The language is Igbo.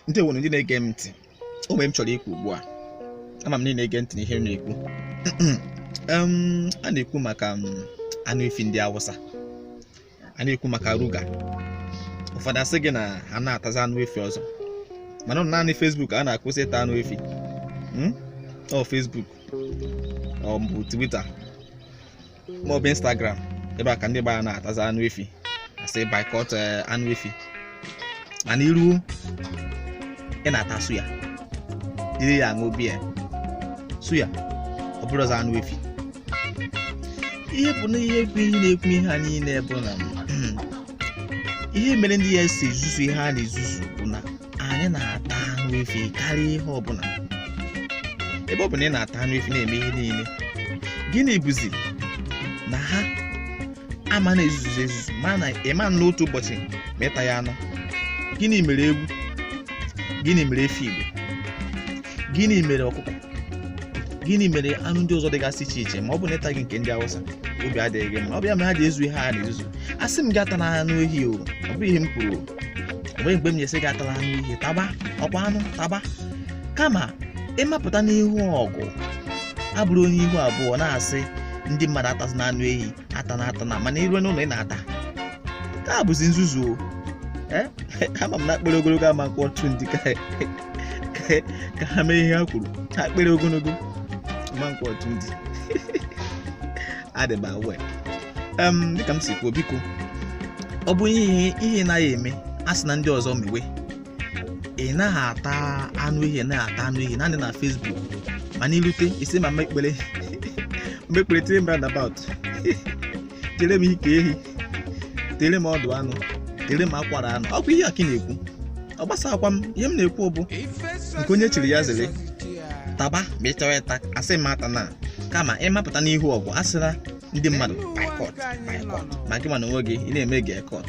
ndị nwere ndị na-ege m ntị o nwere ihe m chọrọ ikwu ugbu a ama m na ị na-ege ntị n'ihe m na-ekwu a na-ekwu maka anụ efi ndị awụsa a na-ekwu maka ruga ụfọdụ asị gị na ha anaghị atazi anụ efi ọzọ mana naanị Facebook a na-akwụsị ịta anụ efi hmm? ọ Facebook ọ bụ twitter ma ọ bụ instagram ebe a ka ndị Igbo anaghị atazi anụ efi a sị boycott eh, anụ efi mana ị ruo ị na-ata suya jiri ya aṅụ biya suya ọ bụrọzi anụ efi ihe bụ na ihe bụ ihe na-ekwu ihe a niile bụ na ihe mere ndị a ji ezuzu ihe ha na-ezuzu anyị na-ata anụ efi karịa ihe ọbụla ebe ọ bụ na ị na-ata anụ efi na-eme ihe niile gịnị bụzi na ha ama na-ezuzu ezuzu mana ị ma anọ otu ụbọchị ma ịtaghị anụ gịnị mere ewu gịnị mere efi igbo gịnị mere ọkụkọ gịnị mere anụ ndị ọzọ dịgasị iche iche ma ọ bụ na ịtaghị nke ndị awụsa obi adịghị gị mma ọ bụ ya mere ha ji ezuzu ihe ha na-ezuzu asị m gị atana anụ ehi o ọ bụghị ihe m kwuru o. o nweghị mgbe m ji sị gị atala anụ ehi taba ọkwa anụ taba kama ịmapụta n'ihu ọgụ abụrụ onye ihu abụọ na-asị ndị mmadụ atazina anụ ehi atana atana mana ị ruo n'ụlọ ị na-ata nke a bụzi nzuzu o Eh? ama m na akpịrị ogologo ama ekwe ọtụtụ ndị ka ka- ka ha mee ihe ha kwuru akpịrị ogologo ama ekwe ọtụtụ ndị adịba wee em dịka m si kwuo biko ọ bụ ihe ị naghị eme asịna ndị ọzọ mewe ị naghị ata anụ ehi naghị ata anụ ehi naanị na Facebook mana ị rute ị sị mama Ekpere tiere m roundabout tiere m ike ehi tiere m ọdụ anụ tiere m akwara anụ ọkwa ihe a ka ị na-ekwu ọ gbasakwa m ihe m na-ekwu bụ nke onye chiri ya zere taba ma ị chọrọ ịta asị m atana kama ịmapụta n'ihu ọgụ asịla ndị mmadụ boycott boycott ma gịnwa n'onwe gị ị na-eme girlcott